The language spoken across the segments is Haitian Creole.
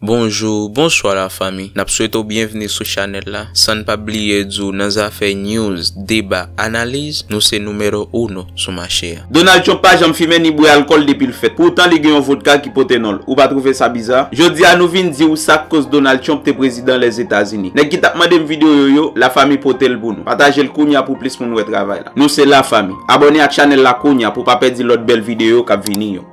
Bonjou, bonswa la fami. Nap swete w byenvni sou chanèl la. San n pa bliye di w nan zafè news, deba, analiz, nou se numero uno sou mache a. Donald Trump pa janm fimen ni bwè alkòl depi l fèt. Poutan li gen yon vodka ki pote non l. Ou pa twouve sa biza? Jodi a nou vin di ou sa k koz Donald Trump te prezidan Lèzetazini. Nèg ki t ap mande m videyo yo, Lafami pote l pou nou. Pataje l kounya pou plis moun wè travay la. Nou se Lafami. Abòne ak chanèl la kounya pou w pa pèdi lòt bèl videyo k ap vini yo.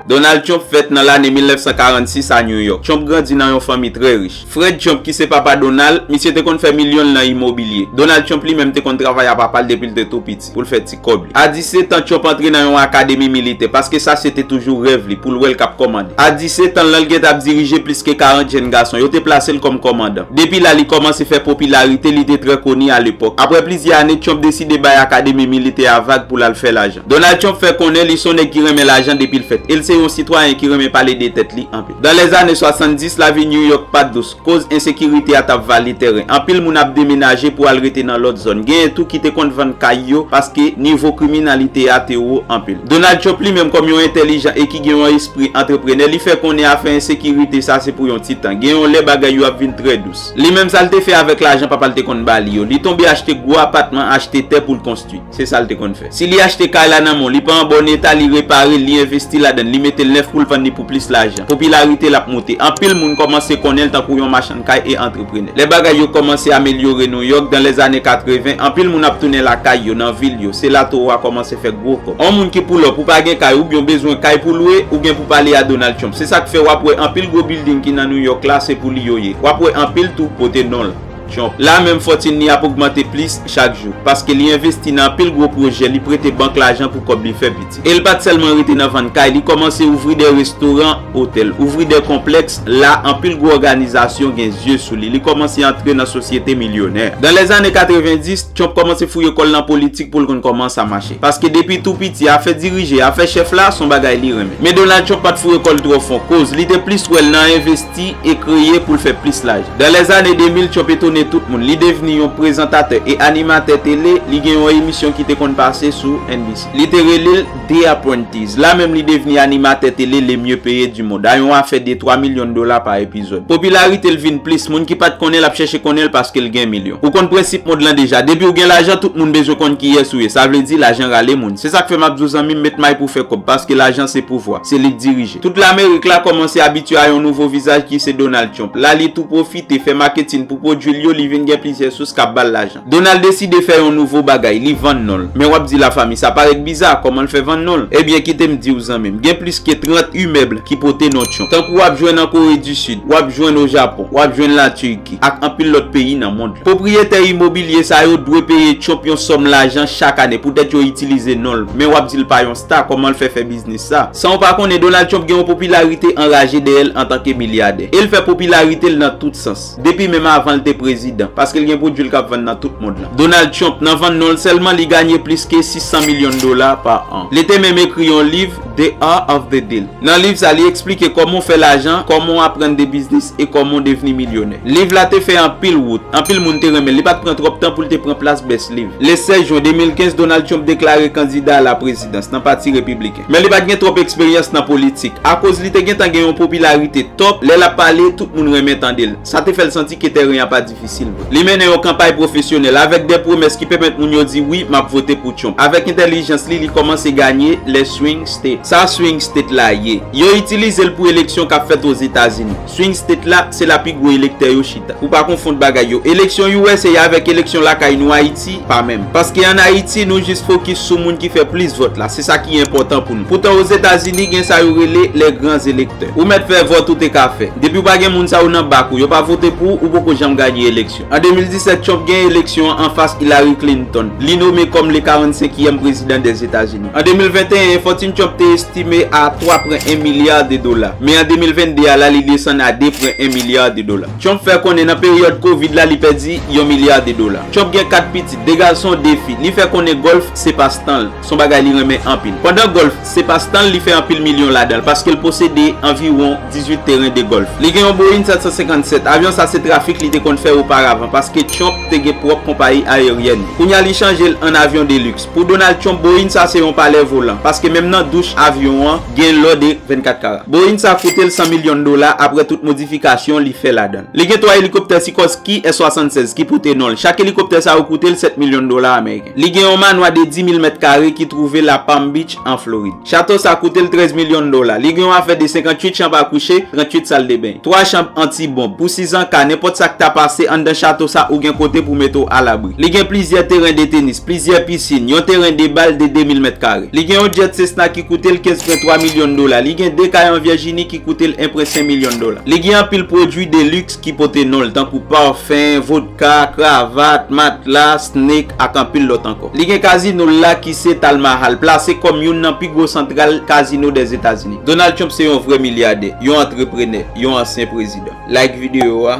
Donald Trump fèt nan lane 1946 a New York. Trump grandi nan yon fanmi trè rich. Fred Trump ki se papa Donald, misye te konn fè milyon l nan imobilye. Donald Trump li menm te konn travay a papa l depi l te tou piti pou l fè ti kòb li. A 17 an, Trump antre nan yon akademi militè paske sa se te toujou rèv li pou l wè l k ap kòmande. A 17 an l lan l gentan ap dirije plis ke 40 jenn gason. Yo te plase l kòm kòmandan. Depi la li kòmanse fè popilarite, li te trè koni a lepòk. Aprè plizyè ane, Trump deside. deside bay akademi militè a vag pou l al fè lajan. Donald Trump fè konnen li son nèg ki renmen lajan depi l fèt e l se yon sitwayen ki renmen pale de tèt li anpil. Dans lèzane 70, lavi New York pat dous, koz ensekirite a tap vale tèren. Anpil moun ap demenaje pou al rete nan lòt zòn. Genyen tou ki te konn vann kay yo paske nivo kriminalite a te wo anpil. Donald Trump li menm kòm yon entèlijan e ki gen yon espri antreprenè li fè konnen afè ensekirite sa se pou yon ti tan. Gen yon lè bagay yo ap vin trè dous. Li menm sa l te fè avèk lajan papa l te konn ba li yo. Li tonbe achte gwo apatman, achte tè pou l konstwi. Se sa l te konn fè. Si li achte kay la nan men w, li pa an bon eta, li repare l, li envesti ladan l, li mete l nèf pou l vann li pou plis lajan. Popilarite l ap moute. Anpil moun kòmanse konnen l tankou yon machann kay e antreprenè. Lè bagay yo kòmanse amelyore Nouyòk, dan lèzane 80, anpil moun ap tounen lakay yo, nan vil yo. Se la Towo a kòmanse fè gwo kòb. On moun ki poulòp, ou pa gen kay, oubyen w bezwen kay pou lwe, ou gen pou pale a Donald Trump. Se sa k fè w ap wè anpil gwo bilding ki nan Nouyòk la, se pou li yo ye. Wap wè anpil tou pote nonl Trump la menm fòtin li ap ogmante plis chak jou paske li envesti nan anpil gwo pwojè li prete bank lajan pou kòb li fè piti el pat sèlman rete nan vann kay li kòmanse ouvri dè restoran otèl ouvri dè konplèks la anpil gwo òganizasyon gen zye sou li li kòmanse antre nan sosyete milyonè dan lè zane 90 Trump kòmanse fouye kòl nan politik poul konn kòman sa mache paske depi tou piti afè dirije afè chèf la son bagay li renmen men Donald Trump pat fouye kòl twò fon koz li te plis wèl nan envesti Ti e kreye pou l fè plis laj. Dans les années 2000, Trump etone tout moun. Li devni yon prezantatè e animatè tele, li gen yon emisyon ki te konn pase sou NBC. Li te rele l The Apprentice. La menm li devni animatè tele le mye peye du mond, a yon afè de 3 milyon dola pa epizòd. Popilarite l vin plis, moun ki pat konnen l ap chèche konnen l paske l gen milyon. Ou konn prensip mond lan deja, depi w gen lajan tout moun bezwen konn kiyès ou ye, sa vle di lajan rale moun. Se sa k fè m ap di w zanmi m met may pou w fè kòb, paske lajan se pouvwa, se li k dirije. Tout Lamerik la kòmanse abitye a yon nouvo vizaj ki se Donald Trump. La li tou pwofite fè maketin pou pwodwi l yo, li vin gen plizyè sous k ap ba l lajan. Donald deside fè yon nouvo bagay, li vann non l. Men w ap di Lafanmi, sa parèt biza, kòman l fè vann non l? Ebyen kite m di w zanmi m, gen plis ke 30 imèb ki pote non Trump. Tankou w ap jwenn an Kore di Sid, w ap jwenn o Japon, w ap jwenn la Turki, ak anpil lòt peyi nan mond la. Pwopriyetè imobilye sa yo dwe peye Trump yon sòm lajan chak ane poutèt yo itilize non l. Men w ap di l pa yon sta, kòman l fè fè biznis sa? San w pa konnen, Donald Trump gen yon popilarite anraje dèyè l antanke milyadè. E l fè popilarite l nan tout sans. Depi menm avan l te prezidan. Paske l gen pwodui l k ap vann nan tout mond lan. Donald Trump, nan vann non l sèlman, li ganye plis ke 600 milyon dola pa an. Li te menm ekri yon liv, The Art of the Deal. Nan liv sa, li eksplike kòman w fè lajan, kòman w aprann de biznis, e kòman w devni milyonè. Liv la te fè anpil wout. Anpil moun te renmen l. Li pa t pran twòp tan pou l te pran plas best liv. Le 16 jwen 2015, Donald Trump deklare kandida a la prezidans, nan pati Repibliken. Men li pa t gen twòp eksperyans nan politik. Akoz li te gentan gen yon popilarite top, lè l ap pale, tout moun renmen tande l. Sa te fè l santi ke tèren an pa difisil vre. Li mennen yon kanpay pwofesyonèl, avèk de pwomès ki pèmèt moun yo di wi, m ap vote pou Trump. Avèk entèlijans li, li kòmanse ganye lè swing state. Sa swing state la ye? Yo itilize l pou eleksyon k ap fèt Ozetazini. Swing state la, se la pi gwo elektè yo chita. Pou pa konfond bagay yo. Eleksyon usa avèk eleksyon lakay nou Ayiti, pa menm. Paske an Ayiti, nou jis fokis sou moun ki fè plis vòt la. Se sa ki enpòtan pou nou. Poutan Ozetazini, gen sa yo rele les grands electeurs. Ou mèt fè vòt ou te ka fè. Depi ou pa gen moun sa yo nan bak ou, yo pa vote pou ou, ou poko janm ganye eleksyon. An 2017, Trump genyen eleksyon an anfas Hillary Clinton. Li nome kòm le 45 ièm prezidan dè Etazini. An 2021, fòtin Trump te estime a 3 pren 1 milyar de dola. Men an 2022 a la li desann a 2 pren 1 milyar de dola. Trump fè konnen nan peryòd Covid la li pèdi yon milyar de dola. Trump gen 4 pitit, 2 gason, 2 fi. Li fè konnen golf se pas tan l. Son bagay li renmen anpil. Pandan gòlf se pastan l, li fè anpil milyon ladan l paske l posede anviwon 18 teren de gòlf. Li gen yon Boeing 757. Avyon sa se trafik li te konn fè oparavan paske Trump te gen pwòp konpayi ayeryèn li. Kounya li chanje l an avyon de liks. Pou Donald Trump, Boeing sa se yon palè volan paske menm nan douch avyon an gen lò de 24 kara. Boeing sa koute l 100 milyon dola aprè tout modifikasyon li fè ladan l. Li gen 3 elikoptè Sikorsky S-76 ki pote non l. Chak elikoptè sa yo koute l 7 milyon dola ameriken. Li gen yon manwa de 10 mil mèt kare ki twouve la Palm Beach an Florid. Chato sa koute l 13 milyon dola. Li gen yon afè de 58 chanb a kouche, 38 sal de beny, 3 chanb anti bonb. Pou sizan ka, nenpòt sa k ta pase, anndan chato sa ou gen kote pou mete w alabri. Li gen plizyè teren de tenis, plizyè pisin, yon teren de bal de 2 mil mèt kare. Li gen yon jet Cessna ki koute l 15 pwen 3 milyon dola. Li gen 2 kay an Virginie ki. koute l enpre 5 milyon dola. Li gen anpil pwodui de liks ki pote non l tankou parfum, vodka, kravat, matla, snake ak anpil lòt ankò. Li gen kazino l la ki se Tal Mahal, plase kòm youn nan pi gwo santral kazino Dèzetazini. Donald Trump se yon vrè milyadè, yon antreprenè, yon ansyen prezidan. Like videyo a.